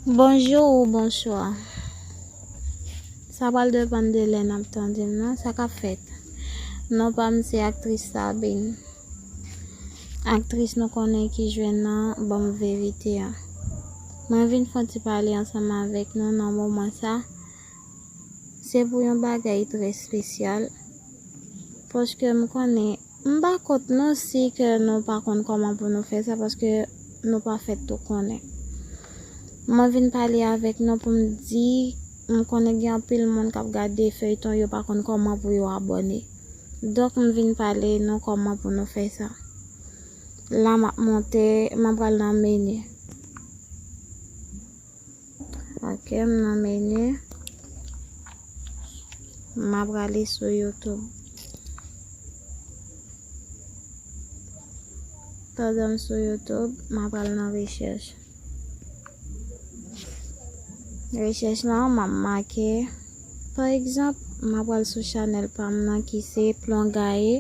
Bonjour ou bonsoir Sa pral depan de lè nap tande m nan sa kap fèt Non pa m se aktris Sabine Aktris nou konnen ki jwe nan banm verite an Mwen vin fon ti pale ansanm avèk nou nan moman sa Se pou yon bagay trè spesyal Paske m konnen M pa kont non si ke nou pa konn kòman pou nou fè sa paske nou pa fèt tou konnen. Mwen vin pale avèk nou pou m di m konnen gen anpil moun k ap gade feyton yo pa konn kòman pou yo abòne. Donk m vin pale nou kòman pou nou fè sa. La m ap monte, m ap pral nan menu. Ok m nan menu. Map rale sou youtube. Pandanm sou youtube map al nan recherche. Recherche nan map make pa egzanp map al sou chanel pam nan ki se plon gaye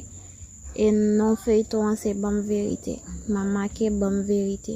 e non feyton an se banm verite. Map make banm verite.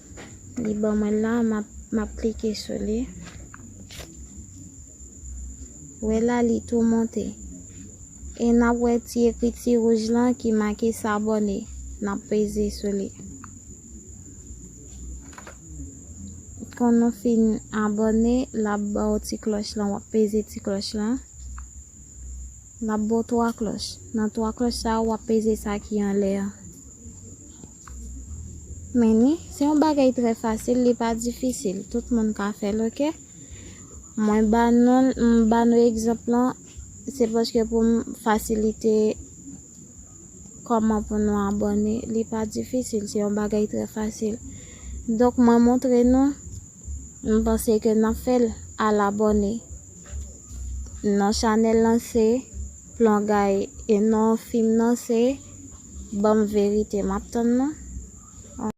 Li ban mwen la map klike sou li. Wè la li tou monte. E nap wè ti ekriti rouj lan ki make sabone. Nap peze sou li. Kon nou fin abone lap ba ou ti kloch lan wap peze ti kloch lan. Lap ba ou 3 kloch. Nan 3 kloch sa wap peze sa ki anle an. Meni, se yon bagay trè fasil li pa difisil, tout moun ka fèl ok. Mwen ba nou, m ba nou egzanp lan, se paske pou m fasilite kòman pou nou abòne, li pa difisil, se yon bagay trè fasil. Donk mwen montre nou, m panse ke nan fèl, al abòne nan chanèl lan se. Plon guy e non film nan se banm verite map tann nan.